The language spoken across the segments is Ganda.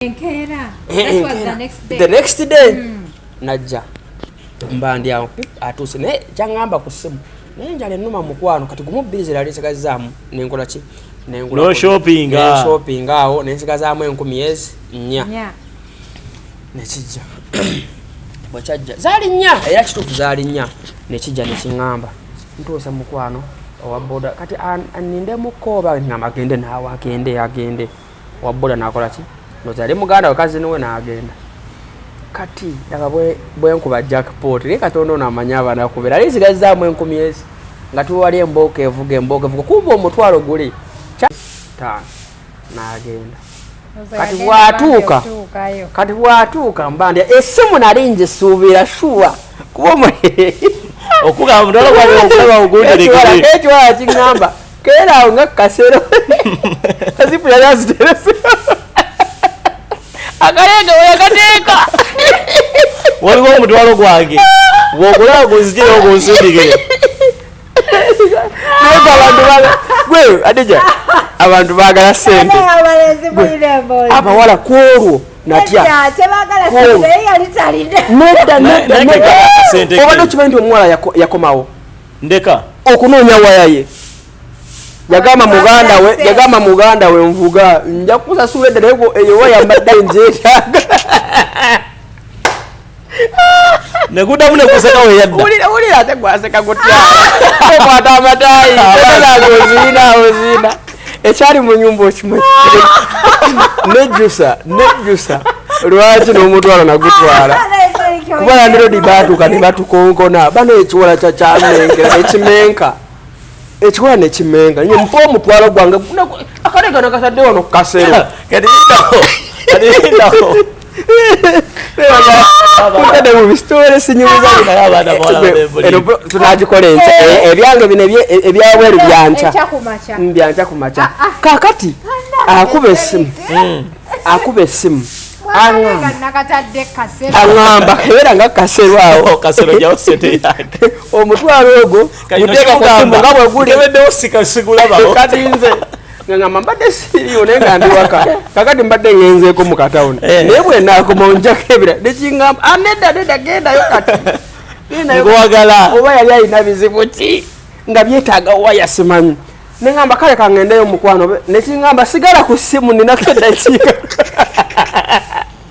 enkeera the next day hmm. najja mba ndi awo atuuse naye kyaŋŋamba ku ssimu naye njala ennuma mukwano kati gumu bbiri ze lali nsigazzaamu nenkola ki nengulashopinga awo nensigazaamu enkumi ezi nnya nekijja bwekyajja zaali nnya era kituufu zaali nnya nekijja nekiŋŋamba ntuuse mukwano owaboda kati anindemukko oba ngamba agende naawe agende agende waboda nakola ki ndoza yali muganda we kazini we nagenda kati yaka bwe bwenkuba jackpot ne katonda ono amanya abana kubera ali ziga zamu enkumi ezi nga tuwali emboka evuga emboka evuga kumba omutwalo guli cha ta nagenda kati bwatuuka kati bwatuuka mba ndi esimu nali njisuubira shuwa kuba omu okugamba mutwalo gwali okulaba ogunderekere ekiwala kiŋŋamba kera awo nga kasero kazipu yali aziterese akalega weyakateeka waliwo omutwalo gwange bwokulaba gunzijire ogunsindikire adija abantu bagala sente abawala kwolwo natyaobadde okimanyi nti omuwala yakomawo ndeka okunoonya waya ye yagamba muganda we yagamba muganda we nvuga nja kusasula edda naye eyo waya mbadde njeetaaga nekudamu nekuseka weyaddaulira ate gwaseka gutya okwata amatayi oziina oziina ekyali mu nyumba okimanyi nejjusa nejjusa lwaki n'omutwalo nagutwala kuba landirodi baatuuka ne batukonkona bana ekiwala kyakyamenkera nekimenka ekiwala nekimenka nye mpa omutwalo gwange akale kano katadde wano kukasero kati indaho kati indaho tunagikola enkya ebyange bino ebyabweru byankya byankya ku makya kakati akuba esimu akuba esimu aŋamba kebeera nga kasero awo omutwalo ogwo guteeka kusimu nga bweguli kati nze ngamba mbadde siriyo naye nga ndi waka kakati mbadde ngenzeeko mu katawuni eh. naye bwenakoma onjako ebira nekingamba aneda ah, neda gendayo kati gwagala oba yali alina bizibu ki nga byetaaga waya simanyi nengamba kale kangendeyo mukwano nekingamba sigala ku simu ninakedakiika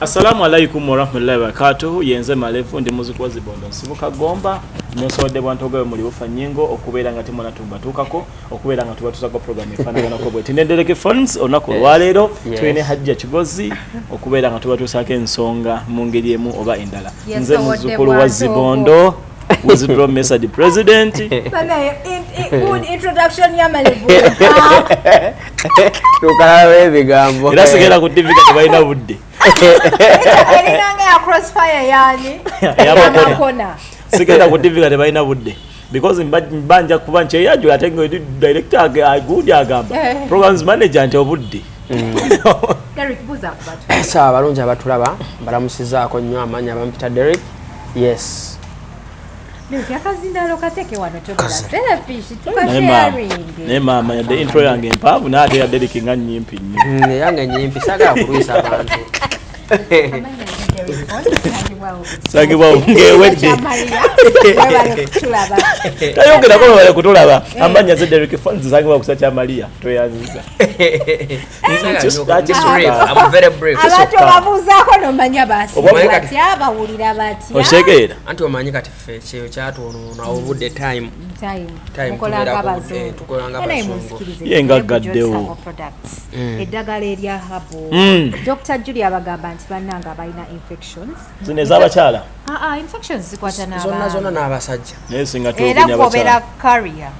Assalamu alaikum warahmatullahi wabarakatuhu yenze malevu ndi muziku wa zibondo nsibuka gomba nesobodde bwantogawe muli bufa nyingo okubeera nga temwana tumbatuukako okubeera nga tubatusako program efaanaganako bweti nendereke phones olunaku olwaleero tulina hajja kigozi okubeera nga tubatuusako ensonga mu ngeri emu oba endala nze muzukulu wa zibondo withdraw message president tukalawo ebigambo era sigenda ku tv kati balina budde sigenda ku tv kati balina budde because mbanja kuba nti eyajula ate nga director agundi agamba eh. programs manager nti obudde mm. abalungi abatulaba mbalamusizaako nnyo amaanyi abampita derek yes naye maama yadde intro yange mpaavu naate yadde liki nga nyimpi nnyo mm, yange nyimpi sagala kulwisa abantu sagibwa ngewedde tayogerako bebale kutulaba eh. amanya zederiki fons sagibwa kusa kya maria tweyanziza abatolabuuzaako nomanya basiabawulira batyaotegeera anti omanyi kati fe kyeyo kyatwonoona obudde time ye nga gaddewo mm. eddagala erya habo mm. dr julia bagamba nti bannanga abalina infections zino ezabakyala ah, ah, infections zikwata zonna n'abasajja era kwobera carrier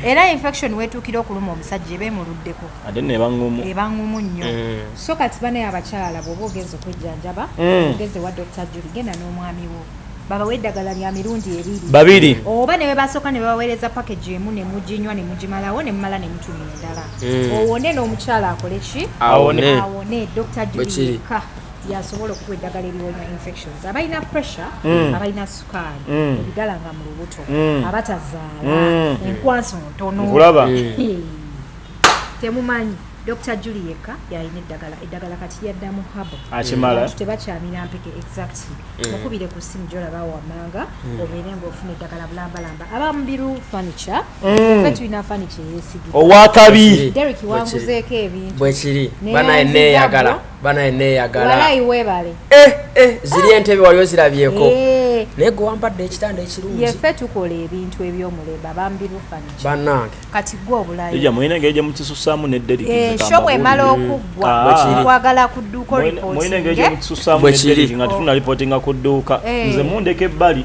era infection wetuukira okuluma omusajja eba emuluddeko ate neba ngumu eba ngumu nnyo eh. so kati bane abakyala bwoba ogenza okwejjanjaba mm. ogenze wa dr juli genda n'omwami wo babawa eddagala lya mirundi ebiri babiri oba ne bebasooka ne babaweereza package emu ne muginywa ne mugimalawo ne mumala ne mutuma endala mm. owone n'omukyala akole ki awone dr juli yekka yasobola okuwa eddagala eriwonya infections abalina pressure mm. abalina sukaali mm. ebigalanga mu lubuto mm. abatazaala enkwanso ntono temumanyi dr juli yekka yalina eddagala eddagala kati lyaddamu habo tebakyamira mpeke exact mukubire ku simu gyolaba wamanga obeere ngaofuna eddagala bulambalamba abamubiru furniture fe tulina furniture yesigire owakabi derik wanguzeeko ebintu bwekiri banaye neyagala banaye neyagala eh, eh, ziri ah. entebe wali ozirabyeko eh. naye gwe wampadde ekitanda ekirungi yefe tukola ebintu ebyomulemba bambi bufaniki banange kati gwe obulayomuyinegeje mukisusaamu nedderigishopu emala okuggwakwagala ah. ku dduuka olipootinge bwekiri nga tunalipotinga ku dduuka nze mundeka ebbali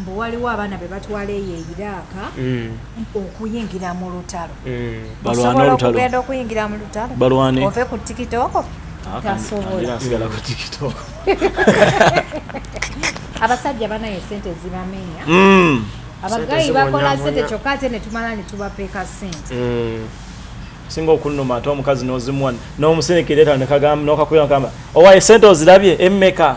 mbu waliwo abaana be batwala eyo eiraaka mm. okuyingira mu lutalo mm. osobola okugenda okuyingira mu lutalo ove ku tikitoko ah, tasobola abasajja banaye sente zibamenya mm. abagayi bakola sente kyokka ate netumala netubapeeka sente singa okunuma ate omukazi nozimuwa nomusenekera etandikagamba nokakuya nokamba owaye sente ozirabye emmeka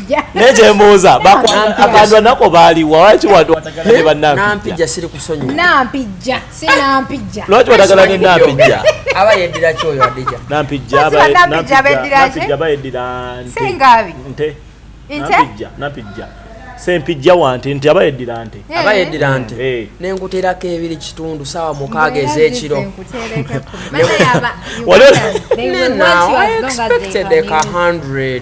naye kyembuuza akandwa nako baaliwa lwaki watu watagala ne banampijja siri kusonyiwa nampijja si nampijja lwaki watagala ne nampijja aba yeddira ki oyo adija nampijja nampijja bayeddira sengabi nte nampijja nampijja sempijja wante nti aba yeddira nte eh. aba yeddira nte eh. nenkuterako ebiri kitundu saawa mukaaga ez'ekiro wali expected ka 100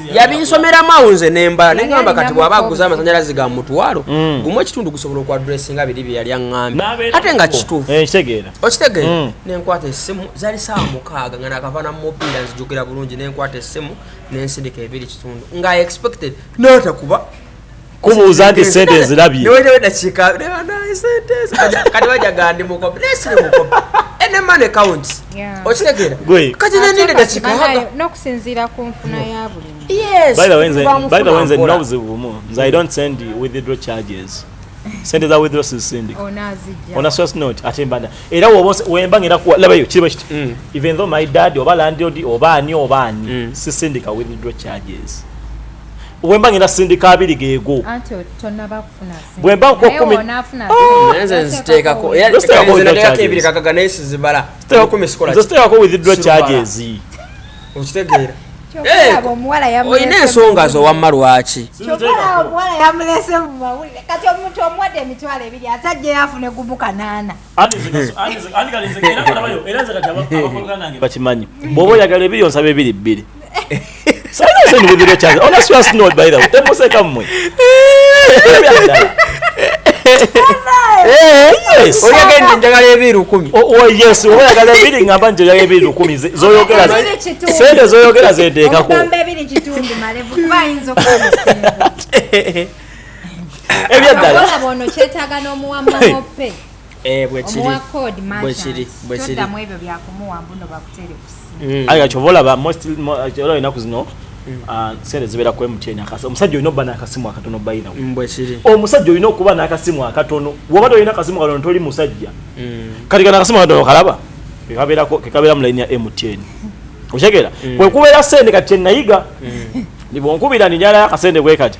yabinsomeramu awo nze nembala naye ngamba kati bwaba aguza amasanyalaze ga mutwalo mm. gumu ekitundu gusobola okuadressinga biri bye yali aŋambye ate nga kituufu eh, okitegeera mm. nenkwata essimu zali saawa mukaaga nga nakavana mumobiira nzijukira bulungi nenkwata essimu nensindika ebiri kitundu nga expected natakuba kubuuza nti sente nzirabye sente za withdraw sizisindika ona source note ate mbanda era wemba ngenda kuwa labayo kiriba kiti mm. even though my dad oba landlord oba ani oba ani mm. sisindika withdraw charges wemba ngenda sindika abiri geego bwemba nkukumitekako withdraw charges okitegeera olina ensonga zo wamma lwaki bakimanyi bwoba oyagala ebiri onsaba ebiri bbiri oyagala ebiri lukumi ngamba nti oyagala ebiri lukumi zoyogera sente zoyogera zeteekako ebyaddala Eh, mm. aye kyova olaba olaba enaku zino mm. ah, sente zibeera ku mtn omusajja olina okuba nakasimu akatono bayirawo mm, omusajja olina okuba nakasimu akatono woba tolina kasimu katono toli musajja kati kana akasimu akatono kalaba kekabeera mu layini ya mtn okitegeera kwekubeera sente kati kyenayiga nibonkubira ninjalayo akasente bwekati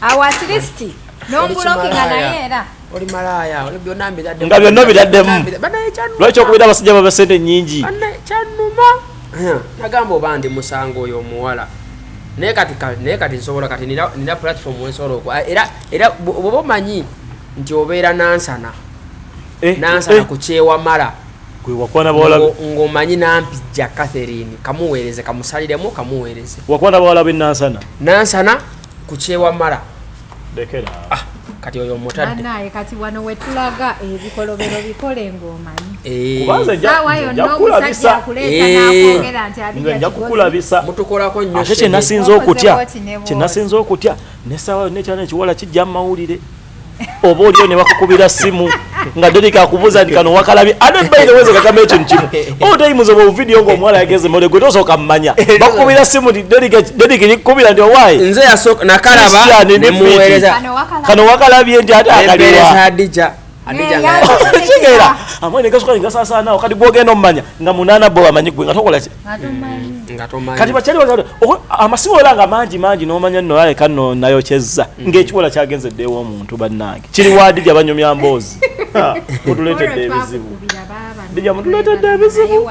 awo at least nombulokinga naye era nga byonna obitaddemu lwaki okubira abasajja baba sente nyingi kyanuma nagamba oba ndi musango oyo omuwala naye kati naye kati nsobola kati nina platform wensobola oku era era bwoba omanyi nti obeera nansana eh, nansana eh. ku kyewamala wakwana bawala ngomanyi nampijja catherine kamuweereze kamusaliremu kamuweereze wakwana bawala be nansana nansana ku kyewamala ah, kati oyo mutadde kati wano wetulaga ebikolobero eh, bikole ng'omanyi eh. saawa yonna omusajja akuleeta eh. nakwogera nti abijjakukulabisa mutukolako nnyo kyenasinza okutya kyenasinza okutya ne saawa yonna ekyana ekiwala kijja mu mawulire oba olio ne bakukubira simu nga Derek akubuza nti kano wakalabi ate by the way ze kakame ekintu kimu all day muzo mu video ngo mwala yageze mole gwe tosoka mmanya bakubira simu nti Derek Derek nikubira ndio why nze yasoka nakalaba ne muwereza kano wakalabi nti ate akaliwa Hadija Hadija ngaya kigera amwe ne kasuka ngasa sana wakati bwogenda ommanya nga munana bo amanyi gwe nga tokola ki Mm, kati bakyali wazala amasimu ola nga mangi mangi nomanya no aye kano nayo kyezza mm. ng'ekiwola kyagenze ddeewo omuntu bannange kiri waadi gya banyumya mboozi mutuleetedde ebizibu dija mutuleetedde ebizibu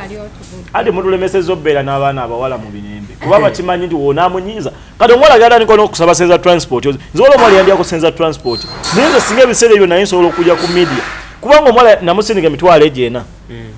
ade mutulemeseza obbeera n'abaana abawala mu binembe kuba eh. bakimanyi nti woonamunyiiza kati omuwala gyalandika n'okusaba senza transport nziwola omuwala yandiyako senza transport naye nze singa ebiseera ebyo naye nsobola okujja ku media kubanga omuwala namusindika emitwalo egyena mm.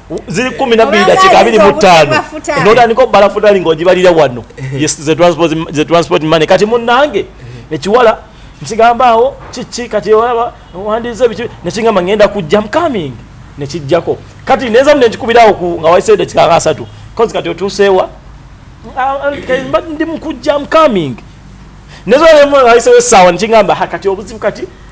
ziri kumi nabbiri dakika abiri mu ttaano notandika okubala futali ngaogibalira wano the transport money kati munange ekiwala nkigamba awo kiki kati olaba wandize biki nekigamba ngenda kujja mcoming nekijjako kati nenzamu nenkikubirawo nga waisaide kikanga asatu kozi kati otuuseewa ndi mukujja mcoming nezolemwaisewo esaawa nekigamba kati obuzibu kati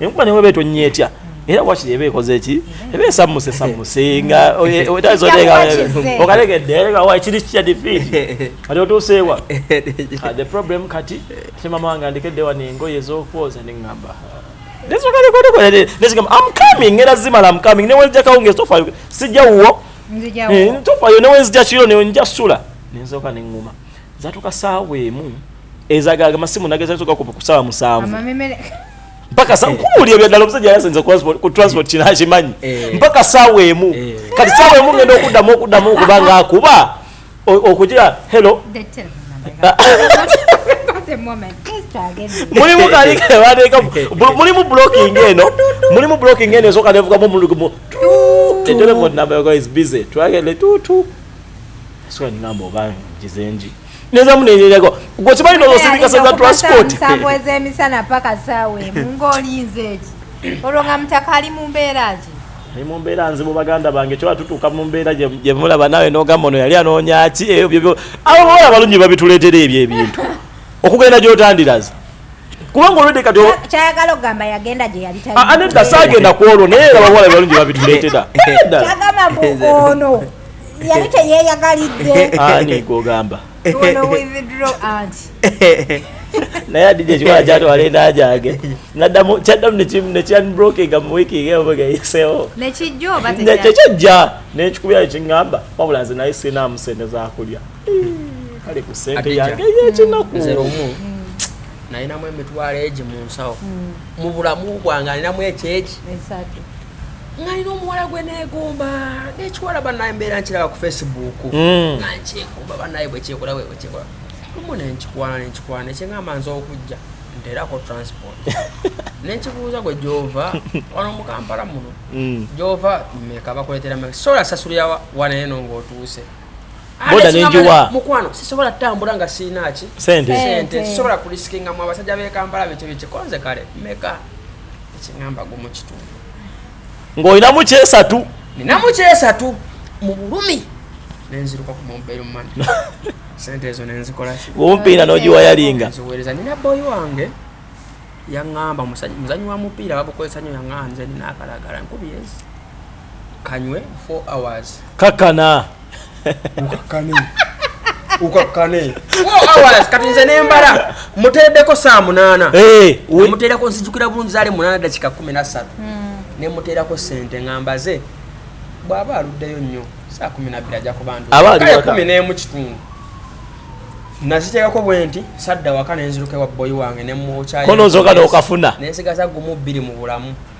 enkuba ne bweba etonnya etya era wakiri eba ekoze ki eba esammuse sammuse nga etaza okategedde kiri kitya difiiti kati otuuseewa ah, the problem kati ate mama wange andikedde wano engoye ez'okwoza ne ŋŋamba nezikwatikoleneziga am coming era zimala am coming newenzija kawungeezi tofayo sijja wuwo eh, tofayo newenzija kiro newenzija sula nenzooka ne ŋŋuma zatuka saawa emu ezagaga masimu nageza zoka ku kusaba musanvu mpaka sa kuuli ebyo dalo msajja yasenza kwa transport ku transport kina hajimanyi eh. mpaka saawa emu eh. kati saawa emu ngenda okudamu okudamu kubanga akuba okujira hello mulimu kali kebateeka mulimu blocking eno mulimu blocking eno esoka nevugamu omulugumu the telephone number is busy twagende tutu Sura ngamba oba jizenji. Neza munenyenyako. Gwe kimanyi no osindika seza transport. Sabo ezemisana paka sawe. Mungoli nzeji. Olwo nga mutaka ali mu mbeera ki? Ali mu mbeera nzibu baganda bange kyoba tutuuka mu mbeera gye mulaba nawe n'ogamba ono yali anoonya ki ebyo byo abo bawala balungi babituleetera ebyo ebintu okugenda gy'otandirazi kubanga olwedde kati kyayagala okugamba yagenda gye yali ah, ah, nedda saagenda ku olwo naye era bawala balungi babituleetera kyagamba mbu ono yali teyeeyagalidde ani gwogamba naye adija ekikola kyatwala enajage naddamu kyaddamu nekyanbrokinga mu wiiki egeogeyisewo nekijja nekikubyayo kiŋamba wabula nze naye sinamu sente zakulya kale ku sente yange yekinaku nze lumu nalinamu emitwalo egi mu nsawo hmm. mu bulamu bwange alinamu ekyeki ngalina omuwala gwe negomba nekiwala banaye mbeera nkiraba ku facebook hmm. nga nkyegomba banaye bwekyekola webwekyekola lumu nenkikwana nenkikwana nekyengamba nze okujja nterako transport nenkibuuza gwe gyova wano mukampala muno hmm. gyova meka bakuletera sola sasulira wanaye no ngaotuuse boda nenjiwa mukwano sisobola tambula nga sina ki sente sente sisobola kulisikinga mu abasajja be Kampala bicho bicho konze kale meka ekingamba gumu kitundu ngolina mu kyesatu nina mu kyesatu mu bulumi nenziruka ku mobile money sente ezo nenzikola ki umpiira nojiwa yalinga nziwereza nina boy wange yangamba muzanyi wa mupiira babukozesa nyo yangamba nze nina akalagala nkubi yes kanywe 4 hours kakana ukakane ukakane 4 hours kati nze nembala muteredeko saa munana eh we muterako nsijukira bulungi zale munana dakika 13 mm. ne muterako sente ngambaze bwaba aluddeyo nnyo saa 12 aja kubandu aba ali waka 10 ne mu kitundu nazitekako bwenti sadda waka nenziruka wa boy wange ne mu chai kono zoka dokafuna nensigaza gumu bili mu bulamu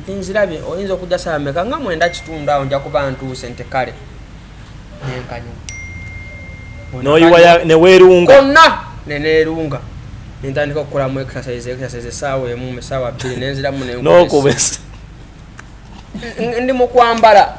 nti nzirabye oyinza okujja saawa meka nga mwenda kitundu awo nja kuba ntuuse nti kale nenkanyuma noyiwa newerunga konna nenerunga nentandika okukolamu exercise exercise esaawa emu esaawa bbiri nenziramu nokubesa ndi mukwambala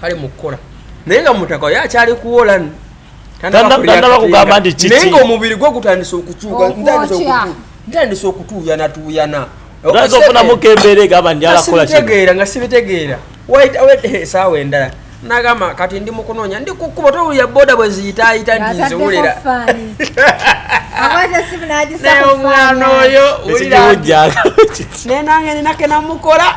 kale mukukola naye nga mutaka oyo akyali kuwola tanaba kugamba nti kiki naye nga omubiri gwe gutandise okukyuka ntandise okutuuyana tuuyana ogaza ofunamuko embeera egamba njala kukola kitegeera nga sibitegeera esaawa eh, endala nagamba kati ndi mukunoonya ndi kukuba towulira boda bwe ziyitaayita nti nziwulira naye omwana oyo wulira naye nange ninake namukola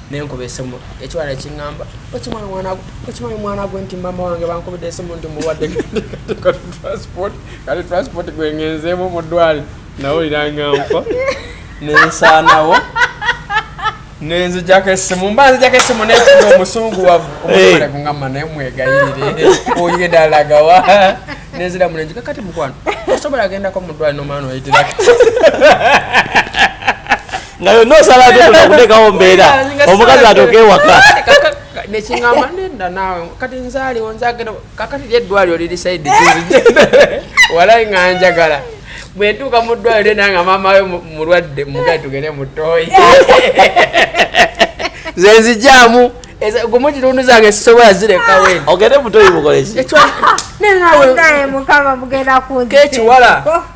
nenkuba esimu ekiwala ekingamba okimanyi mwana okimanyi mwana gwe nti mama wange bankubidde esimu nti muwadde transport kati transport gwengenzeemu mu ddwali nawulira nga nfa nensaanawo nenzijako esimu mba nzijako esimu nefuga omusungu wavu omwale kungamba naye mwegayirire oyedalagawa nezira munenjika kati mukwano osobola agendako mu ddwali nomwana oyitirako nga yonna osala atotona kutekawo mbeera omukazi atoka ewaka nekingamba nenda naawe kati nzaaliwo nzagenda kakati ly eddwaliro liri saidi walayi nga njagala bwentuuka mu ddwaliro nanga maama we mulwadde mugai tugende mutoyi zenzijamu gumu kitundu zange sisobola zirekawo ogende mutoyi mukoleki nenawe mukama mugenda kunkekiwala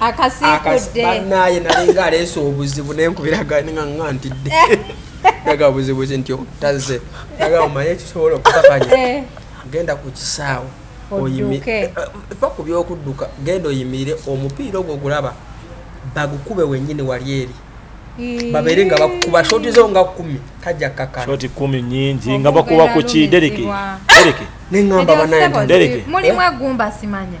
akasikudde banaye nalinga aleese obuzibu nenkubiraganaa nga ntidde aga buzibuzi nti otaze aga omanye ekisobola okukakanya eh. genda ku kisaawe eh, fa ku byokudduka genda oyimirire omupiira ogwo gulaba bagukube wenyini wali eri babere nga bakukuba shoti zo nga kumi kajja kakana shoti kumi nyingi nga bakuba ku kidereke dereke nengamba banaye dereke mulimu agumba simanya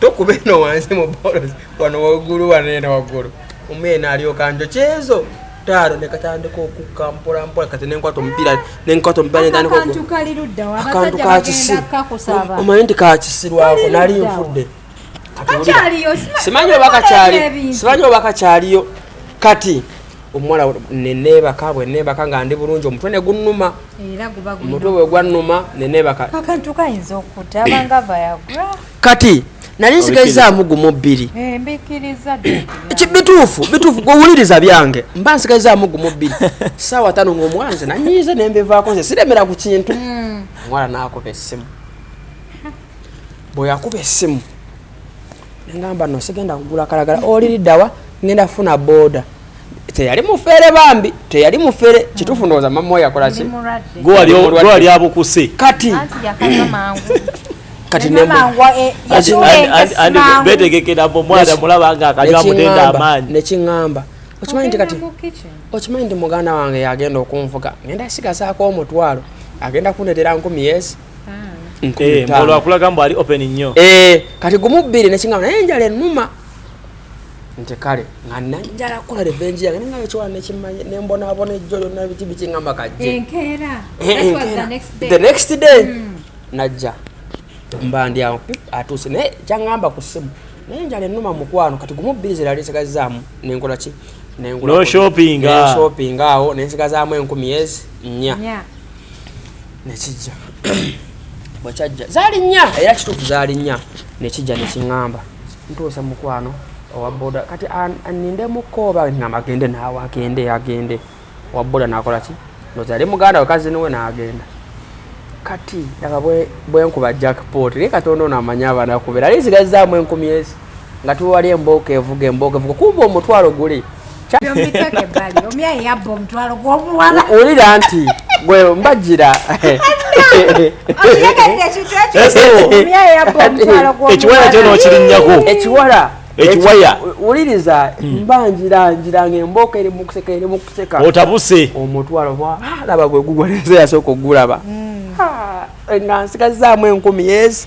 tokuba eno wansi mu bolozi wano waggulu wano ena waggulu omu ena alyoka njo kyezo taaro nekatandika okukka mpola mpola kati nenkwata omupiira nenkwata omupiirakantu kakisi omanyi nti kakisirwako nali nfudde simanyi oba kakyaliyo kati omuwala neneebaka bweneebaka nga ndi bulungi omutwe negunuma omutwe bwe gwannuma nenebaka akantu kayinza okuta abanga vayagra kati nali nsigazaamu gumu bbiri eh, bituufu bituufu gwewuliriza byange mba nsigazaamu gumu bbiri saawa tano ngaomwanze nanyiize nembivaako nze siremera ku kintu hmm. omwana nakuba essimu bweyakuba essimu nengamba no sigenda kugula kalagala oliridawa ngenda funa boda teyali mufere bambi teyali mufere kitufu ndowoza mama oyo akola ki gwali abukuse kati kati betegekera mbu omwana mulaba nga akanywa mutenda amaanyi nekiŋamba okimanyi nti kati okimanyi nti muganda wange yagenda okunvuga ngenda sigazaako omutwalo agenda kundetera nkumi yesi Eh, olwakulaga mbu ali open nnyo eh, kati gumu bbiri nekigamba naye enjala enuma nti kale nga nanjala kukola revenji yange ninga ekyola nekimanya nembonabona ejjo lyonna biki biki ngamba kajje the next day hmm. najja mba ndi awo atuuse naye kyangamba ku simu naye enjala enuma mukwano kati gumu bbiri zirali nsigazaamu nenkola ki nenshopping awo nensigazaamu enkumi ezi nnya nekijja bwekyajja zaali nnya era kituufu zaali nnya nekijja nekiŋŋamba ntuuse mukwano owaboda kati anindemukko oba ŋŋamba agende naawe agende agende owaboda nakola ki ndoza yali muganda we kazini we naagenda kati laba bwenkuba jackpot naye katonda ono amanyi abanakubeera ali zigazizaamu enkumi ezi nga tuli wali embooko evuga embooko evuga kumba omutwalo guli wulira nti gwe mbajira ekiwaya kyona okirinyako ekiwala ekiwaya wuliriza hmm. mbanjira njira nga embooko eri mukuseka eri mukuseka otabuse omutwalo alaba ah, gwegugwa nze yasooka okugulaba hmm. ah, nga nsigazaamu enkumi yesi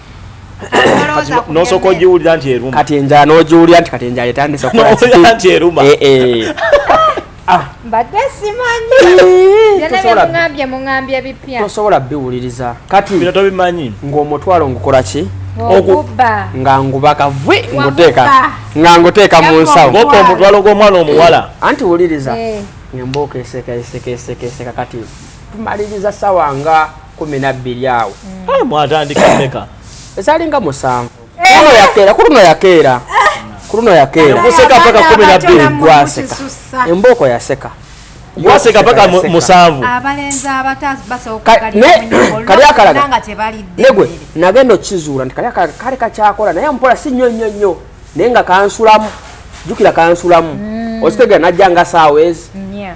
nosooka ogiwulira nti eruma kati enjala n'ogiwulira nti kati enjala etandise okukola nti eruma eh, eh. Ah. mbadde simanyi byonabyemungambye mungambye ebipya tosobola biwuliriza kati bino tobimanyi ng'omutwalo ngukola ki okubba nga nguba kavwe nguteeka nga nguteeka mu nsawo ngoka omutwalo gw'omwana omuwala eh, anti wuliriza eh. ngemba okeeseka eseka eseka eseka kati tumaliriza sawa nga kumi nabbiri awo eh, mwatandika meka ezalinga musanvu kuluno yakeera kuluno yakeera kuluno yakeerakuseka paka kumi nabbiri gwaseka embooko yaseka waseka paka musanvu kali akalaga negwe nagenda okizuula nti kali akalaga kali kakyakola naye mpola si nnyo nnyo nnyo naye nga kansulamu jukira kansulamu mm. okitegera najja nga saawa ezi mm,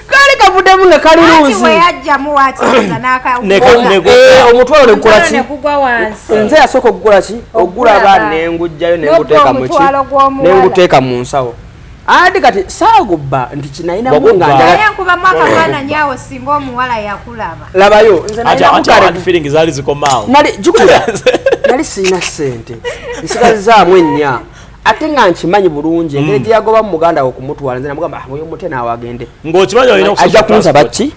kali kavudemu nga kali luuzi omutwalo negukula ki nze yasooka okugula ki okugula abaana nengujjayo nenguteeka muki nenguteeka mu nsawo andi kati saagubba nti kinayinamu ngalabayo nali sirina sente nsigazaamu ennya ate nga nkimanyi bulungi engeri mm. gye yagoba mu muganda we okumutwala nze namugamba ah, oyo mute naawe agende ng'okimanyi olina ajja kunsaba ki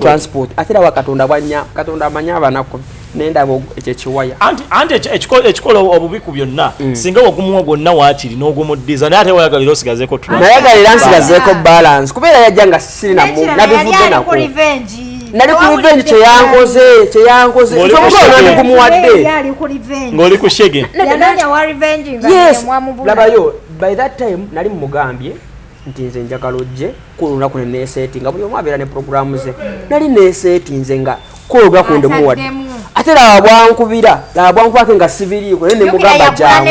transport ate era wakatonda bwanya katonda amanyi abanaku nendaba ekyo ekiwaya anti ekikola obubi ku byonna mm. singa ogumuwa gwonna waakiri n'ogumuddiza naye ate wayagalira osigazeeko nayagalira nsigazeeko balance kubeera yajja nga sirina mu nabivudde nako nali ku revenge kyeyankoze kyeyankoze nzomugolonandikumuwadde ngoli ku shege yes labayo by that time nali mumugambye nti nze njagala ojje kulunaku neneseeti nga buli omu abeera ne programu ze nali neseeti nze nga kologa ku ndimuwadde ate laba bwankubira laba bwankubake nga sibiriiko naye nemugamba jangu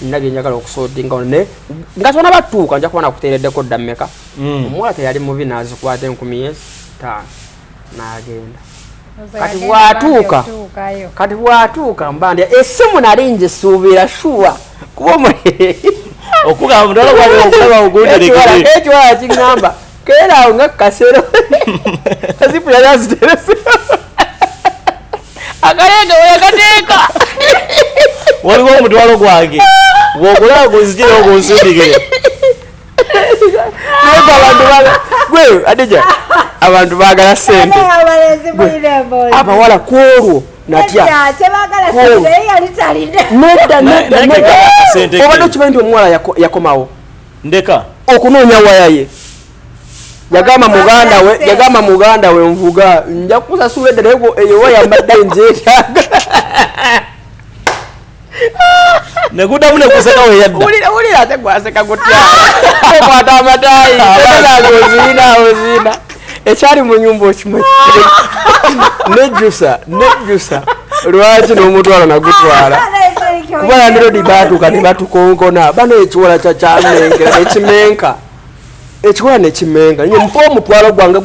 nina byenjagala okusotinga ono naye nga tona batuuka nja kuba nakuteereddeko dda mmeka mm. omuwala teyali mubi nazikwata enkumi ye taano nagenda kati bwatuuka kati bwatuuka mbandi esimu nali nje suubira shuwa kuba omu okugamba mutala gwali okulaba ogunderekeekiwala kiŋamba keera awo nga kasero azipu yali aziterese akalega weyakateeka waliwo omutwalo gwange gwogulaba gunzijira ogunsindikire naye abantu bala gwe adija abantu bagala sente abawala kwolwo natyaobadde okimanyi nti omuwala yakomawo ndeka okunoonya waya ye yagamba muganda we yagamba muganda we nvuga nja kusasula eddala ego eyo waya mbadde njeetaaga nekudamu nekuseka weyaddaulira ate gwaseka gutya okwata amataayi ozina ozina ekyali mu nyumba okimanyi nejjusa nejjusa lwaki n'omutwalo nagutwala kuba landirodi baatuuka ne batukonkona bana ekiwola kyakyamenkera nekimenka ekiwola nekimenka nye mpa omutwalo gwange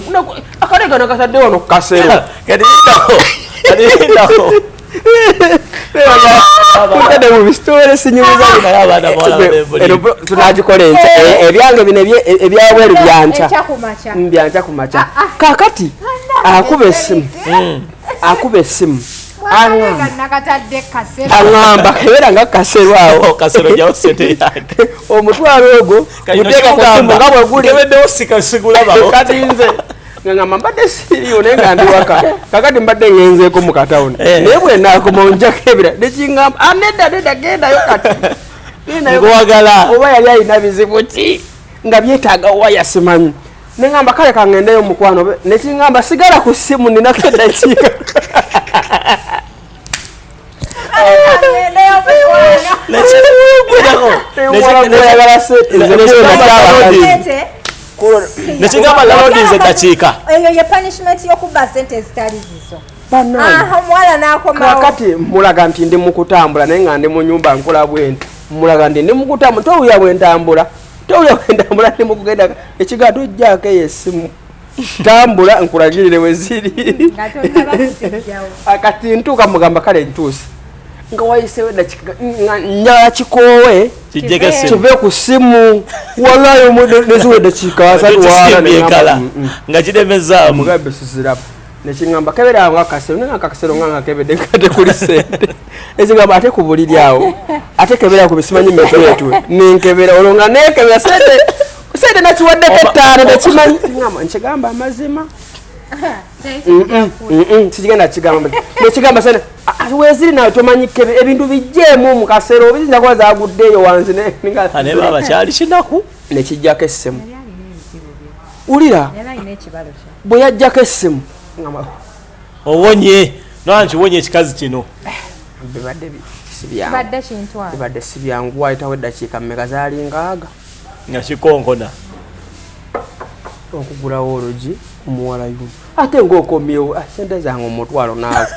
akalegano kasadde wano kukasero tunagikola enkya ebyange bino ebyabweru byankya byankya ku makya kakati akuba esimu akuba esimu aŋamba kebeera nga kasero awo omutwalo ogwo muteeka kusimbu nga bweguli kati nze nga ngamba mbadde siriyo naye nga ndiwaka kakati mbadde ngenzeeko mu katawuni eh. naye bwenakoma onjako ebira nekingamba aneda ah, neda gendayo kati ngwagala oba yali alina bizibu ki nga byetaaga waya simanyi nengamba kale kangendeyo mukwano nekingamba sigala ku simu ninako eddakiika nekigamba lalodinze eddakiika eyo ye punishment yokuba sente ezitali zizo omuwala nakomakati mulaga nti ndi mukutambula naye nga ndi mu nyumba nkola bwenti mulaga nti ndi mukutambula towuya bwentambula towuya bwentambula ndi mukugenda ekigato ojjaako eyo esimu tambula nkulagirire weziri akati ntuuka mugamba kale ntuusi nga wayisewo njala kikoowe kive ku simu walayo neziwa eddakiika asatwala mm, mm. nga kiremezaamu mugambe sizirabu nekiŋamba keberanga akasero naye akakasero nga ngakebedde nkate kuli sente ezigamba ate ku buliri awo ate kebera ku bisimanyi metuetwe nenkebera olwo nga nekebera sente sente nakiwaddeko ettaano nekimanyi nkigamba amazima kigenda kigamba nekigamba sente weziri nawe tomanyi kebe ebintu bijjeemu mu kaseera obiyinza kuba zaguddeeyo wanzi nebaba kyali kinaku nekijjako essimu wulira bwe yajjako essimu owonye nanti wonye ekikazi kino bibadde sibyangu bibadde sibyangu wayitawo eddakiika mmeka zaali ngaaga nga kikonkona okugulawo olugi omuwala yu ate ngaokomyewo ah, sente zange omutwalo naawe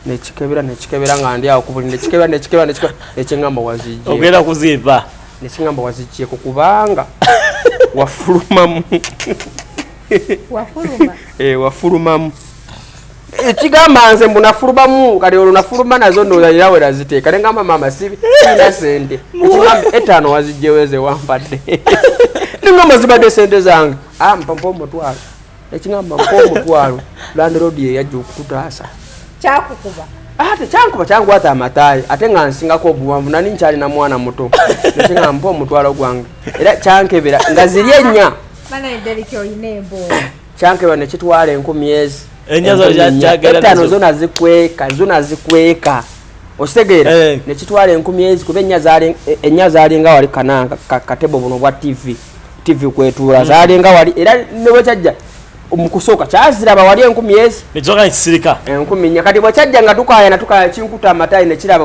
nekikebera nekikebera nga ndi awo kubuli nekikebera nekikebera nekingamba wazijje ogenda kuzimba nekingamba wazijjeko kubanga wafulumamu wafuluma eh wafulumamu ekigamba nze mbu nafulumamu kati olwo nafuluma nazo ndozaira we naziteeka nengamba maama sibi ina sente ekigamba etaano wazijjeweze wampadde nengamba zibadde sente zange ah, mpampa omutwalo ekigamba mpa omutwalo landirodi yeyajja okututaasa kyakukuba ah, tekyankuba kyankwata amatayi ate nga nsingako obuwanvu nani nkyalina mwana muto nekigamba mpa omutwalo gwange era kyankebera nga ziri ennya kyankebwa nekitwala enkumi ezi etaano zona zikweka zona zikweka ositegeera eh. nekitwala enkumi ezi kuba ennya zalinga wali kananga katebo buno bwa tv tv kwetuula hmm. zalinga wali era nebwekyajja mukusooka kyaziraba wali enkumi ezi enkumi nya kati bwekyajja nga tukayana tukaya kinkuta amatayi nekiraba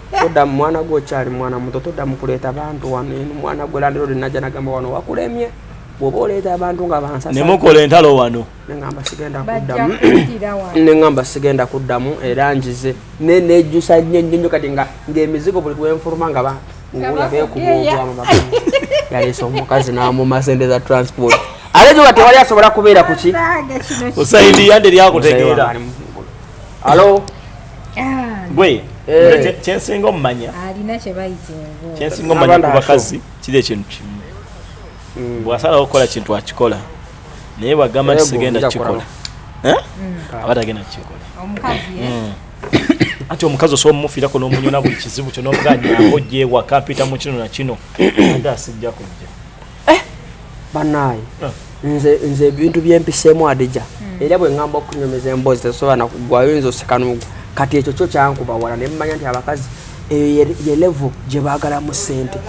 toda mwana gwe okyali mwana muto toda mukuleeta abantu wano eno mwana gwe landirodi najja nagamba wano wakulemye bwoba oleeta abantu nga bansanemukola entalo wano neamba sigenda kuddamu neŋamba sigenda kuddamu era njize ne nejjusa nnyo nnyo nnyo kati nga ng'emizigo buli lwenfuluma nga ba nguula beekuba obwamu ba yaleesa omukazi n'amuma sente za transport ate gyoba tewali asobola kubeera kuki usaidiya nderyakutegeera alo Ah, gwe eh. kyensinga omumanya alina kyebayita engo kyensinga omumanya ku bakazi kiri ekintu kimu mm. bwasalawo okukola kintu akikola naye bwagamba nti sigenda kukikola eh? mm. aba tagenda kukikola eh? mm. anti omukazi osobola omufirako n'omunyona buli kizibu kyo n'omugaa nyango gyewaka mpita mu kino na kino ate asijja kujja eh, banaye ah. nze nze ebintu byempiseemu adija hmm. era bwe ngamba okunyumiza emboozi tesobola nakugwayo nze osekanugu kati ekyo kyo kyankuba wala ne mmanya nti abakazi eyo ye levo gye baagalamu ssente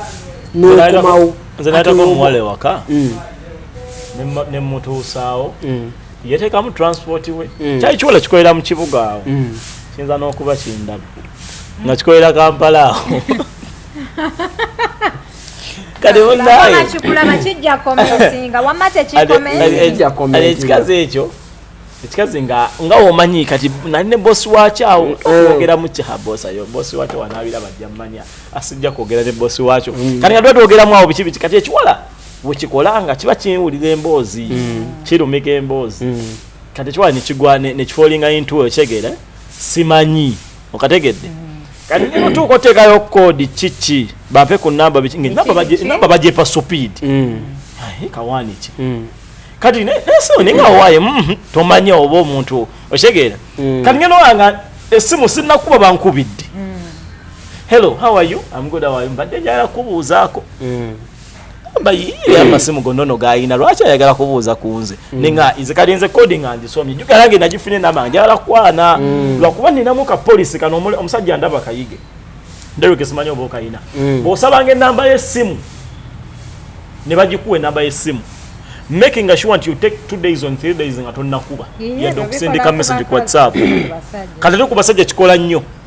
nekumawo nze nataka omuwala ewaka hmm. ne mutuusaawo hmm. yetekamu transport we mm. kyali kiwala kikolera mu kibuga awo mm. kiyinza n'okuba kindaba nga kikolera kampala awo ekikazi ekyo ekikazi nga nga omanyi kati nali ne bosi wakyo awo mm. okwogera mu kiha bosi ayo bosi wakyo wanaabira bajja mumanya asijja kwogera ne bosi wakyo mm. kati nga tuba twogeramu awo biki biki kati ekiwala wekikola nga kiba kiwulira emboozi mm. kirumika emboozi kati ekiwala nekigwa nekifoolinga intuo okyegere simanyi okategedde kati ne mutuuka oteekayo koodi kiki bape ku namba namba bagyepa supiidi mm. kawaani ki mm. kati nesoni nga owaye mm-hmm, tomanyi oba omuntu okitegeera mm. kati ngenda olanga esimu sinakuba bankubidde hello how are you am good how are you mbadde njagala kubuuzaako amasimu gonna no gayina lwaki ayagala kubuuza ku nze mm. ninga nze kali nze coding andisomye jugala nge nagifune nama njagala kukwana mm. lwakuba ninamu ka polisi kano omusajja ndaba kayige nderuke simanyi oba okayina mm. bwosabanga enamba yesimu ne bagikuwa enamba yesimu making sure nti you take two days on three days nga tonnakuba yadde okusindika message ku whatsapp kati tekuba sajja kikola nnyo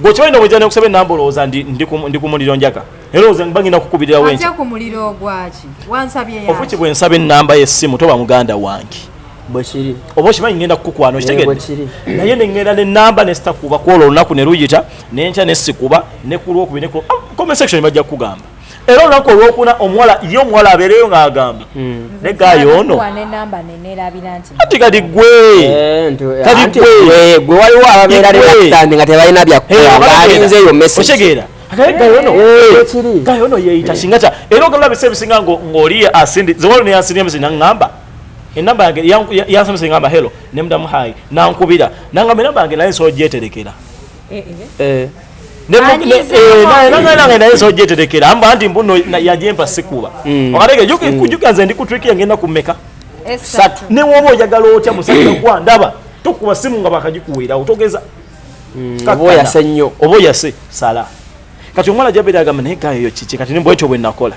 Gwe kimanyi nobwejja nekusaba enamba olowooza ndi ku muliro njaga era olowooza mba ngenda kukubirira wenki ofuki bwe nsaba enamba y'essimu toba muganda wange bwekiri oba okimanyi ngenda kukukwana okitegedde naye nengenda nenamba nesitakuba kwolwo olunaku ne luyita nenkya nesikuba nekulwokubi ah, comment section bajja kukugamba era olunaku olwokuna omuwala ye omuwala abeereyo ng'agamba hmm. ne gaayi ono ati kati gwe eh, kati gwe gwe waliwo ababeera reaktandi nga tebalina byakkolabalinze eyo meseotegeera gaayi ono yeeyita singa kya era ogamba bise ebisinga ng'oli asindi zewalo neyansindia misi nangamba enamba yange yansomesa engamba helo nemudamu hayi nankubira nangamba enamba yange naye nsobola gyeterekera nange naye nsobola gyeterekera mba nti mbuno yajempa sikuba mm. wakatege juka mm. nze ndi ku trick yangenda kumeka satu newoba oyagala otya musajja gwa ndaba tokuba simu nga bakagikuweerawo togeza mm, oba oyase nnyo oba oyase sala kati omwana jabeera agamba naye gayo yo kiki kati nimba ekyo bwe nakola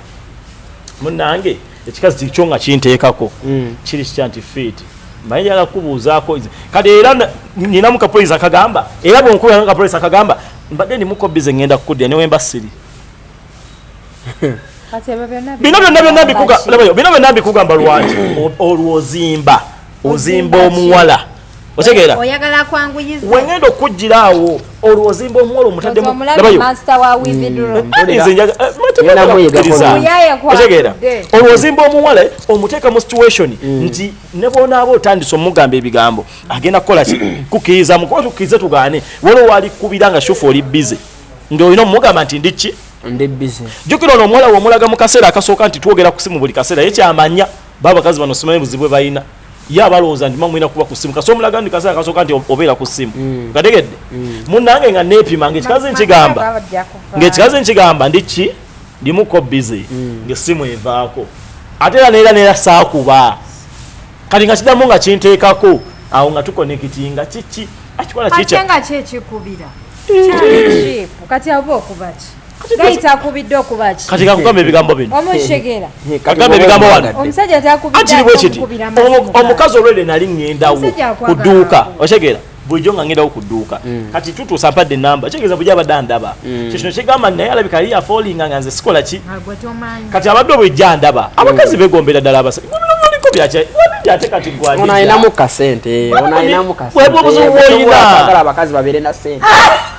munange ekikazi kyo nga kinteekako mm. kiri kitya nti fiiti mbaye njagala kukubuuzaako kati era ninamu kapolisi akagamba era bwenkuba kapolisi akagamba mbadde ndimuko bize ngenda kukudya newemba siri bino byonna byonna bino byonna mbikugamba lwaki olwozimba ozimba omuwala otegeera oyagala kwanguyiza wengenda okujjira awo olwo ozimba omuwolo omutaddemu labayo master wa with the draw mm. nze njaga eh, mategera otegeera olwo ozimba omuwala omuteeka mu situation mm. nti ne bwonaaba otandise omugamba ebigambo agenda kukola ki kukiriza mukuba tukirize tugaane waliwo wali kubira nga shufu oli busy nga olina omugamba nti ndi ki ndi busy jukira ono omuwala womulaga mu kaseera akasooka nti twogera kusimu buli kaseera ye kyamanya Baba kazi bano simanyi buzibwe bayina. Ya balonza ndi mamwina kuba ku simu. Kaso mulaga ndi kasa kaso kanti obera ku simu. Mm. Kadegede. Mm. Munange nga nepi mange kikazi nkigamba. Nge kikazi nkigamba ndi ki? Ndi muko busy. Mm. Nge simu evako. Atela nera nera saa kuba. Kati nga kidamu nga kinteka ko. Awo nga tuko nekitinga chichi. Achikwana chicha. Atenga chechi kubira. Kati abo kubaki. gayita akubidde okuba ki kati kakugamba ebigambo bino omushegera kakugamba ebigambo wano omusajja atakubidde omukazi olwede nali ngendawo ku dduuka oshegera bulijjo nga ngendawo ku dduuka mm. kati tutuusa mpadde enamba kitegeeza bulijjo abadde andaba mm. kyekino kigamba naye alabika yali yafoolinga nga nze sikola ki kati abadde obulijjo andaba mm. abakazi begombera ddala abasajja onainamu kasente onainamu kasente obuzibu bwoyina abakazi babeere na sente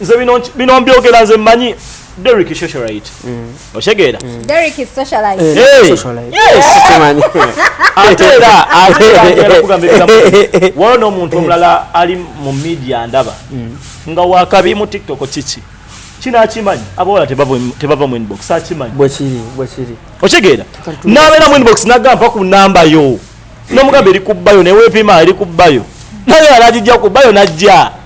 nze bino bino mbyogera nze manyi Derek is socialite. Mm. Oshegera. Mm. Derek is socialite. Eh, hey. Socialite. Yes. Sikimanyi. Atera, atera kugambira. Wano omuntu omulala ali mu media ndaba. Mm. Nga wakabi mu TikTok chichi. Kina akimanyi. Abola tebavo tebavo mu inbox. Akimanyi. Bwechiri, bwechiri. Oshegera. Nawe na mu inbox nagamba ku namba yo. Nomugambe eri kubayo ne wepima eri kubayo. Nawe alajija kubayo najja.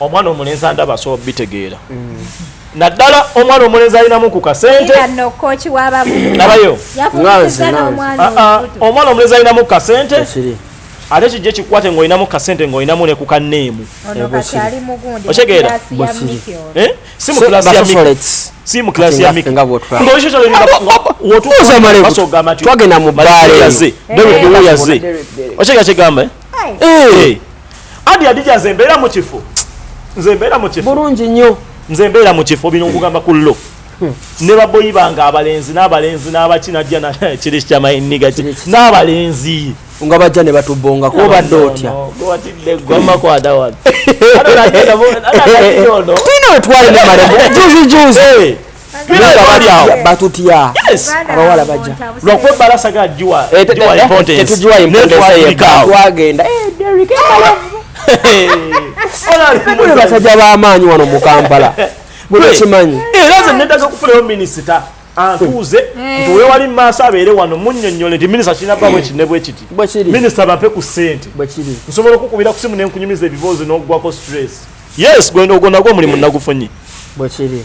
omwana omulenzi andaba asobola obitegeera mm. naddala omwana omulenzi alinamu ku kasente nabayo ah, ah, omwana omulenzi alinamu ku kasente ate kijja ekikwate ngaolinamu kasente ngaolinamu ne ku kaneemu okitegeera eh? si mu kilasi ya si mu kilasi ya mikwotuuzamalewotwagenda mu baale yaze dewe kuwuyaze okitegeera kyegamba eh? adi adija nze mbeera mu kifo nze mbeera mu kifo bulungi nnyo nze mbeera mu kifo bino nkugamba ku lo hmm. ne baboyi bange abalenzi n'abalenzi n'abaki najja kiri kyamainiga n'abalenzi nga bajja ne batubongako obadde otya tulina wetwali ne malevu juzi juzi batutya abawala bajja lwakuba ebbala sagala giwa tetugiwa impotenseyetwagenda basajja b'amaanyi wano mu kampala mukimanyi era ze nedaga kufunayo minisita antuuze nti wewali mu maaso abeere wano munyonyole nti minisita kirina bwa bwekiti ne bwekiti minisita bape ku ssente nsobola okukubira ku simu ne nkunyumiza ebiboozi n'oggwako stress yes ogwo nagwo omulimu nagufunye bwekiri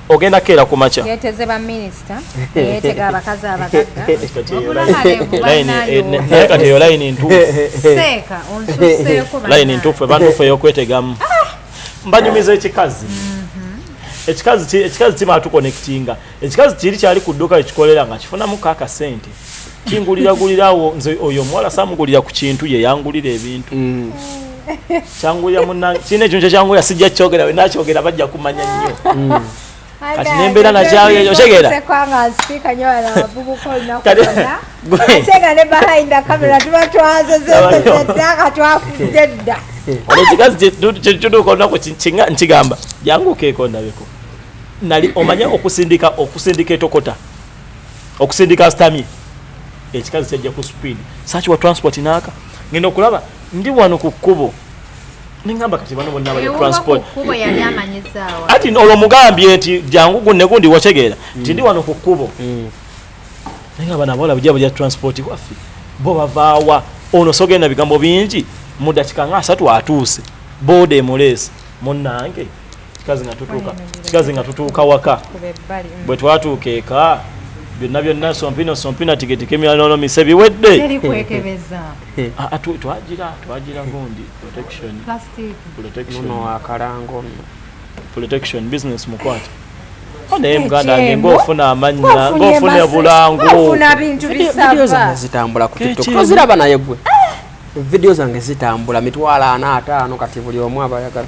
ogenda kukeera ku makya yeteze ba minisita yetega abakazi abagagga naye kati eyo layini ntuufu seeka onsuseeko layini ntuufu ebantuufu eyokwetegamu ah! mbanyumiza ekikazi mm-hmm. ekikazi ekikazi kimala tukonectinga ekikazi kiri kyali ku dduuka ekikolera nga kifunamu kakasente kingulira gulira awo nze oyo omuwala samugulira ku kintu ye yangulira ebintu mm. kyangulira muna kirina ekintu kyekyangulira sijja kyogera we nakyogera bajja kumanya nnyo mm. kati nembeera nakyayo otegera olwo kikazi kyetutuuka olunaku nkigamba jangu keeko ndabeko nali omanya okusindika okusindika etokota okusindika asitamye ekikazi kyajja ku speed saki wa transport naaka ngenda okulaba ndi wano ku kkubo nengamba kati bano bonna bali transport ati olwo mugambye nti jangu gunne gundi wategeera mm. nti ndi wano ku kkubo mm. naye nga bana abawala bujja bulya transport waffe bo bavaawa ono sogenda bigambo bingi mu dakika nga asatu atuuse booda emuleesi munnange kikazi nga tutuuka waka mm. bwe twatuuka eka byonna byonna sompino sompina tigetikemyanono mise biwedde ah, ah, twagira twagira gundi protection business mukwate naye muganda nge ngaofuna amanya ngaofuna ebulangu zitambula kuziraba naye gwe ah! vidiyo zange zitambula mitwalo ana ataano kati buli omu abayagala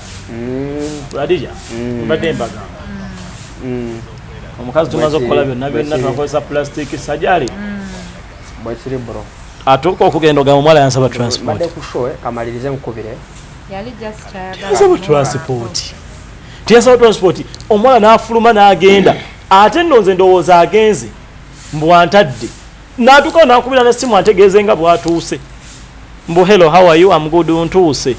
mm. adija mm. mbadde mbagamba mm. omukazi tumaze okukola byonna byonna tunakozesa plastic sajali bwekiri bro atuuka okugenda ogamba omuwala yansaba transport eh, kamalirize nkubire yasaba transport tiyasaba transport omuwala n'afuluma n'agenda ate nno nze ndowooza agenze mbwantadde natuukawo nakubira ne simu ategeeze nga bwatuuse mbu hello how are you am good ntuuse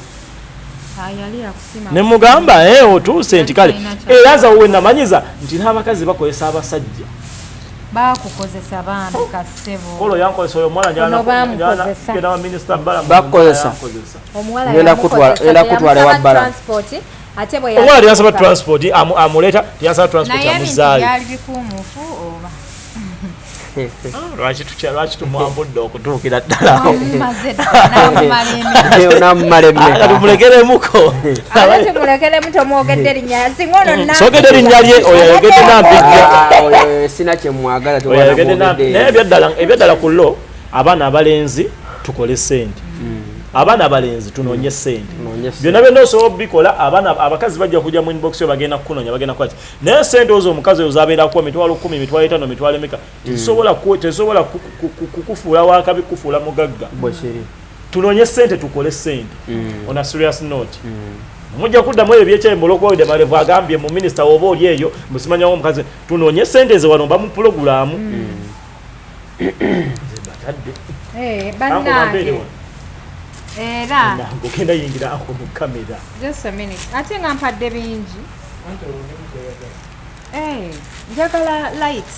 ne mugamba e eh, otuuse nti kale era nza wowe namanyiza nti n'abakazi bakozesa abasajja bakukozesa bambi kasebo yankozesa oyo mwana nyana nyana wa minister bala bakukozesa omuwala yenda kutwala yenda kutwala wa bala transport ate bwe omuwala yasa ba transport amuleta yasa transport amuzaali yali bikumufu oba lwaki tumwambudde okutuukira ddalamulekeremuko sogede erinnya lye oyo ayogedde nampijjaebyaddala ku lo abaana abalenzi tukole sente hmm. abaana abalenzi tunoonye sente byonna byonna osobola obikola abaana abakazi bajja kujja mu inbox yo bagenda kukunonya bagenda kwaki naye sente ozo omukazi oyo zabeerako emitwalo kumi emitwalo etano emitwalo emeka mm. tezisobola kukufuula wakabi kukufuula mugagga tunonye sente tukole sente mm. on a serious note mm. mujja kuddamu ebyo byekyayi mulokwawide malevu agambye mu minisita woba oli eyo musimanyawo omukazi tunonye sente zewano mba mu pulogulaamu Eh, bannange era ogenda yingira ako mu kamera just a minute ate nga mpadde bingi eh, njagala light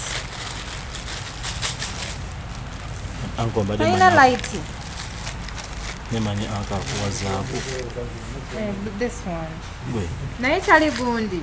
alina light nemanyi akakuwazaaku eh, naye tali gundi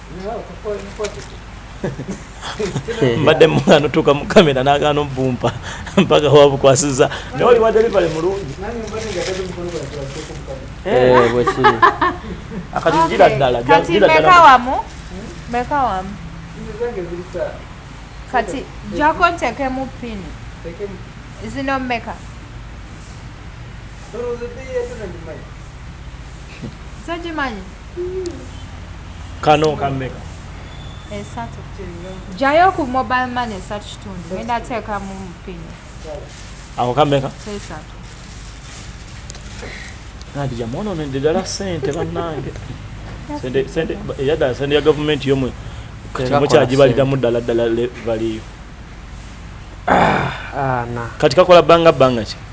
mbadde mwana otuuka mu kamera nagaana obumpa mpaka wabukwasiza naye oli wa delivery mulungi eh, bwekiri akati gira ddala kati meka wamu meka wamu kati jako ntekemu pini zino meka sogimanyi kano kameka esatu jayo ku mobile money esatu kitundu enda teekamu mupini ako kameka esatu nadi jamwononedde ddala sente bannange eyadala sente ya gavumenti yomwe mukyagibaliramu ddala ddala valiyo ah, ah, kati kakola banga banga ki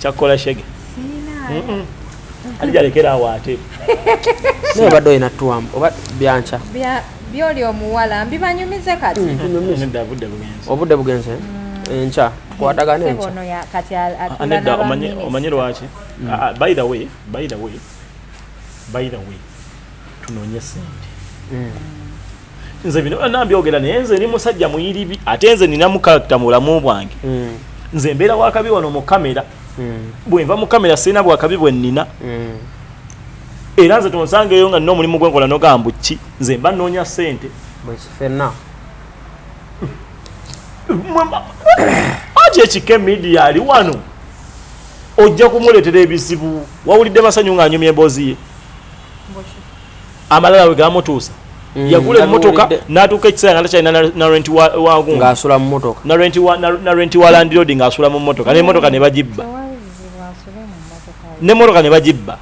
kyakola shege ali jalekera awo ate naye obadde olina tuwamu oba byanca byoli omuwala mbibanyumize kati mm, obudde bugenze mm. enkya tukwatagana enkyanedda ah, omanyi lwaki mm. ah, ah, by the way by the way by the way tunonye sente mm. nze bino byonna mbyogera naye nze ni musajja muyiribi ate nze ninamu karakita mu bulamu bwange mm. nze mbeera wakabi wano mu kamera mm. bwe nva mu kamera sirina bwakabi bwe nnina era nze tonsangeeyo nga nina omulimu gwenkola nogamba ki nze mba nnoonya sente bwekifena ati ekike midia ali wano ojja kumuleetera ebizibu wawulidde masanyu ng'anyumya emboozi ye amalala we gamutuusa mm, yagula emmotoka n'atuuka ekiseera nga takyalina narenti wangungaasula mu motoka narenti wa landirodi ng'asula mu motoka n'emmotoka ne bagibba n'emmotoka ne bagibba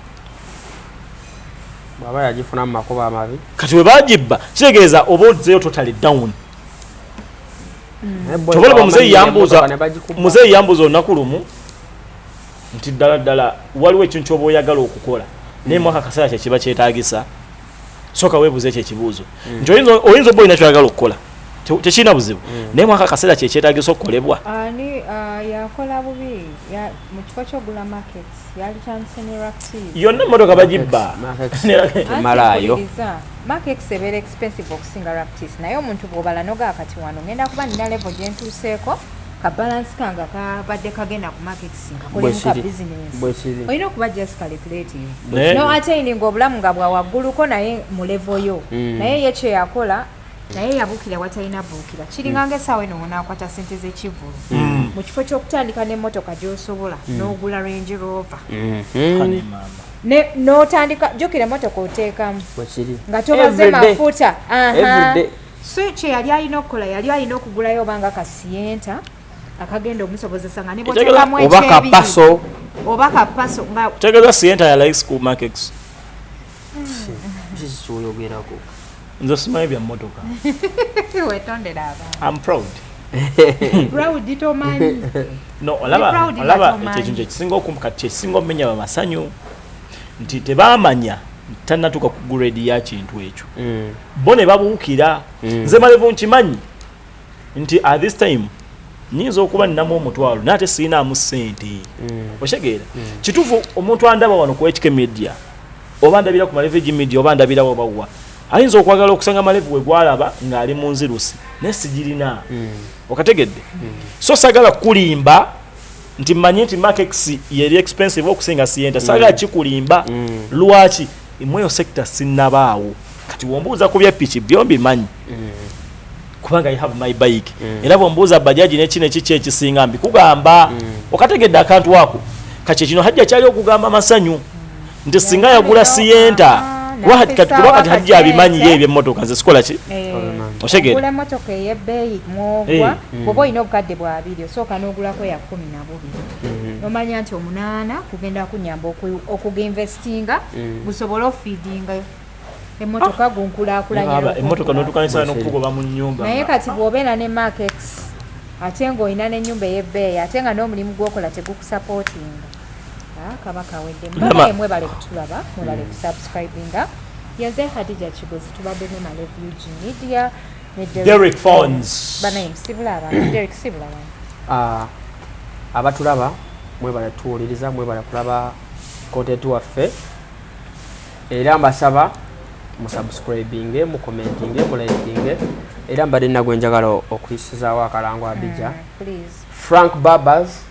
bwaba yagifuna mu makubo amabi kati we bagibba kitegeeza oba ozeyo totali down mm. tobalaba muzeeyi yambuuza muzeeyi yambuuza olunaku lumu nti ddala ddala waliwo ekintu kyoba oyagala okukola naye mwaka kaseera kyekiba kyetagisa soka webuuza ekyo ekibuuzo mm. nti oyinza oba olina kyoyagala okukola tekirina buzibu mm. naye mwaka kaseera kyekyetagisa okukolebwa uh, yakola bubi mu kifo kyogula markets yali kyandise ne ractiv yonna emmotoka bagibba malayo markex ebeera expensive okusinga raptis naye omuntu bwobala nogaa kati wano ngenda kuba nina levo gyentuuseeko ka balance kanga kabadde kagenda ku market nkakolemuka business olina okuba just calculating no attaining obulamu nga bwa wagguluko naye mu level yo mm. naye ye kye yakola naye yabukira watalina buukira kiringa mm. ngaesaawa eno wonakwata sente z'ekivulu mm. mu kifo ky'okutandika n'emmotoka gy'osobola n'ogula range rover mm-hmm. notandika jukira motoka otekamu nga tobaze mafuta so kyeyali alina okukola yali alina okugulayo obanga kasiyenta akagenda omusobozesa nga nebwotekamu ekyebirio oba kapaso nga tegeza siyenta ya like school markets kyoyogerako nze simanyi bya motoka wetondera abantu am proud proud tomanyi no olaba olaba ekyo kyekisinga okumkati kyekisinga omenya bamasanyu nti tebamanya tanatuka ku grade ya kintu ekyo mm. bo ne babuukira mm. nze malevu nkimanyi nti at this time nyinza okuba ninamu omutwalo naye ate sirinaamu ssente mm. okitegeera mm. kituufu omuntu andaba wano ku hk media oba ndabira ku malevu egi media oba ndabira wabawa ayinza okwagala okusanga malevu we gwalaba ng'ali mu nzirusi naye sigirina mm. okategedde mm. so sagala kukulimba nti manyi nti makex yeri expensive okusinga sienta saga mm. kikulimba mm. lwaki imweyo sector sinabaawo kati wombuuza ku byepiki byombi manyi mm. kubanga i have my bike mm. era bwombuuza bajaji nekino ekiki ekisinga mbi kugamba mm. okategedde akantu ako kati kino hajja kyali okugamba masanyu nti singa yagula siyenta kuba kati kuba kati hajji abimanyi ye ebyemmotoka nze sikola ki eh, oshegera emmotoka ey'ebbeeyi mwogwa eh, mm. bwoba olina obukadde bwa biri osooka n'ogulako ya kumi na bubiri mm-hmm. nomanya nti omunaana kugenda kunyamba okuginvestinga mm. gusobole ofiidinga emmotoka ah. gunkulakulanyaemmotoka notukanisa nokukugoba mu nyumba naye kati bwobeera ne market ate ng'olina n'ennyumba ey'ebbeeyi ate nga n'omulimu gwokola tegukusapootinga Ah, kaba kawedde mbabaye mwebale kutulaba mwebale mm. kusubscribinga yaze hadija kigozi tubadde ne malevu ug media ne derek fons banaye musibula abantu derek sibula abantu ah, abatulaba mwebale tuwuliriza mwebale kulaba kontenti waffe era mbasaba musubscribinge mukomentinge mulikinge era mbadde nagwe njagala okuyisizaawo akalango abija mm, frank barbers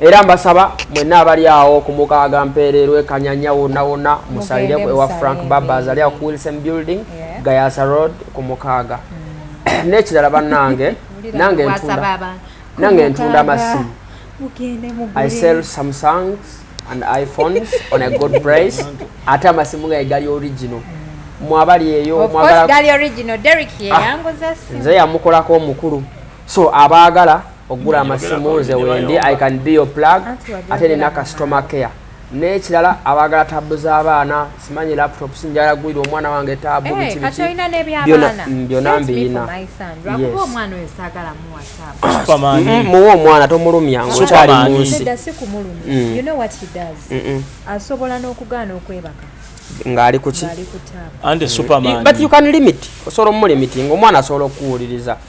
era mbasaba mwenna abali awo ku mukaaga mpeereerwa ekanyanya wonna wonna musalire ewa frank babas ali awo ku wilson building gayasa road ku mukaaga mm. n'ekirala bannange nange ntunda nange ntunda amasimu i sell samsungs and iphones on a good price ate amasimu gaye gali original mm. mwabali eyo ah. nze yamukolako omukulu so abaagala okugula amasimu nze wendi i can be your plug ate nina customer care n'ekirala abaagala taabu z'abaana simanyi laptop sinjala gwira omwana wange taabu eh, bikibikibyona mm, mbiyina mm, muwa omwana tomulumya ngaokyali munsi mm. asobola n'okugaana okwebaka ngaali kuki but you can limit osobola omulimitinga omwana asobola okukuwuliriza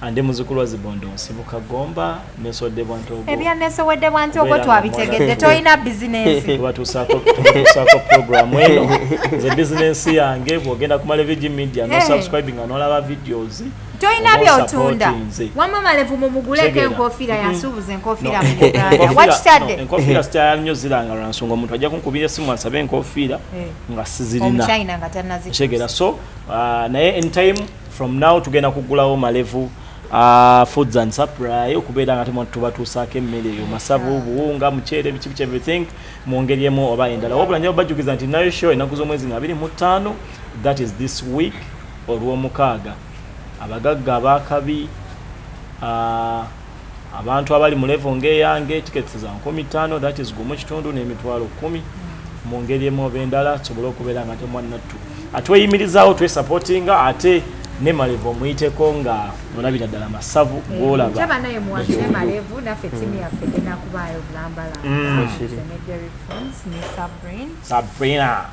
andi muzukulu wa zibondo nsibuka gomba nesowedde bwantogo ebya nesowedde bwantogo twabitegedde tolina bizinensi batusaako programu eno nze bizinensi yange bwogenda ku malevigi media no eh. subscribing nga nolaba videos tolina byotunda wama malevu mumuguleko enkofiira mm-hmm. yasuubuza enkofiira muganda wakitadde enkofiira sikyala nnyo ziranga lwansonga omuntu ajja kunkubira esimu asabe enkofiira eh. nga sizirina nga tanazitegeera so uh, naye anytime from now tugenda kugulawo malevu uh, foods and supply okubeera nga temu tubatuusaako emmere eyo masavu ah. buwunga muceere biki biki everything mu ngeri emu oba endala wabula nja bajjukiza nti nayo show ennaku z'omwezi nga abiri mu ttaano that is this week olw'omukaaga abagagga abaakabi uh, abantu abali mu level ng'eyange tickets za nkumi ttaano that is gumu kitundu n'emitwalo kkumi mu ngeri emu oba endala tusobole okubeera nga temwannattu atweyimirizaawo twesupportinga ate ne malevu omuyiteko nga olabira ddala masavu eh, gwolaba naye muwange ne malevu naffe timu yaffe enakubaayo bulambalamba mm. ne sabrina